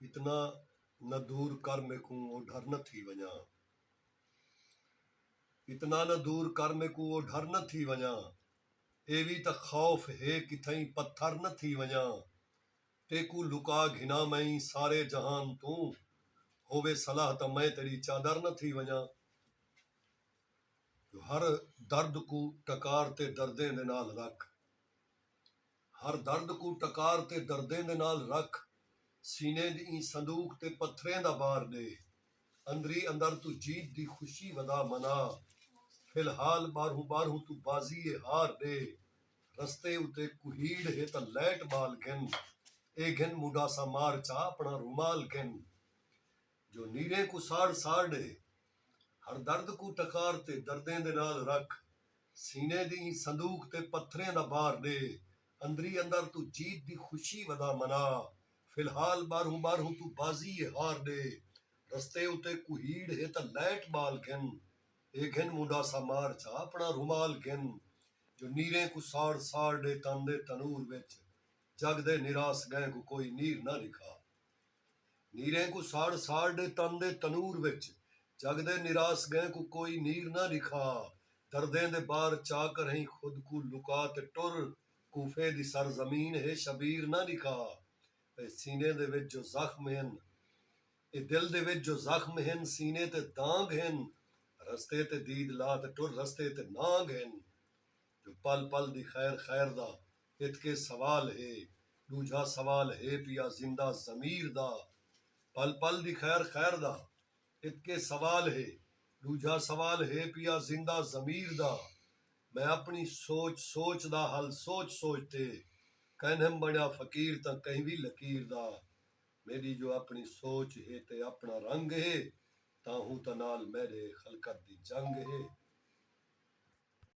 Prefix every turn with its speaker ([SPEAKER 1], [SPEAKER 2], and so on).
[SPEAKER 1] اتنا نہ دور کر میکوں او ڈھر نہ تھی ونڄاں۔ اتنا نہ دور کر میکوں او ڈھر نہ تھی ونڄاں۔ اے وی تاں خوف ہے کتھائیں پتھر نہ تھی ونڄاں۔ تیکوں لکا گھناں میں سارے جہان توں۔ ہووے صلاح تاں میں تیݙی چادر نہ تھی ونڄاں۔ جو ہر درد کوں ٹکار تے دردیں دے نال رکھ۔ ہر درد کوں ٹکار تے دردیں دے نال رکھ سینے دی ایں صندوق تے پتھریں دا بار ݙے اندری اندر توں جیت دی خوشی ودا منا فی الحال ٻاہروں ٻاہروں توں بازی اے ہار ݙے رستے اتے کوہیڑ ہے تاں لائٹ ٻال گھن اے گھن مونڈھاساں مار چا اپݨا رومال گھن جو نیریں کوں ساڑ ساڑ ݙے ہر درد کوں ٹکار تے دردیں دے نال رکھ سینے دی ایں صندوق تے پتھریں دا بار ݙے اندری اندر توں جیت دی خوشی ودا منا فی الحال ٻاہروں ٻاہروں توں بازی اے ہار ݙے رستے اتے کوہیڑ ہے تاں لائٹ ٻال گھن اے گھن مونڈھاسا مار چا اپݨا رومال گھن جو نیریں کوں ساڑ ساڑ ݙے تن دے تنور وچ جڳ دے نراس ڳئیں کوں کوئی نیر نہ رکھا۔ نیریں کوں ساڑ ساڑ ݙے تن دے تنور وچ جڳ دے نراس ڳئیں کوں کوئی نیر نہ ݙکھا دردیں دے بار چا کرہیں خود کوں لکا تے ٹر کوفے دی سر زمین ہے شبیر نہ ݙکھا اے سینے دے وچ جو زخم ہن اے دل دے وچ جو زخم ہن سینے تے دانگ ہن رستے تے دید لا تے ٹر رستے تے نانگ ہن جو پل پل دی خیر خیر دا ایتکے سوال ہے۔ ݙوجھا سوال ہے پیا زندہ ضمیر دا۔ پل پل دی خیر خیر دا۔ ایتکے سوال ہے۔ ݙوجھا سوال ہے پیا زندہ ضمیر دا۔ میں اپݨی سوچ سوچ دا حل سوچ سوچ تے کائنہم بݨیا فقیر تاں کہیں وی لکیر دا۔ میݙی جو اپݨی سوچ ہے تے اپݨا رنگ ہے تاں ہوں تاں نال میݙے خلقت دی جنگ ہے۔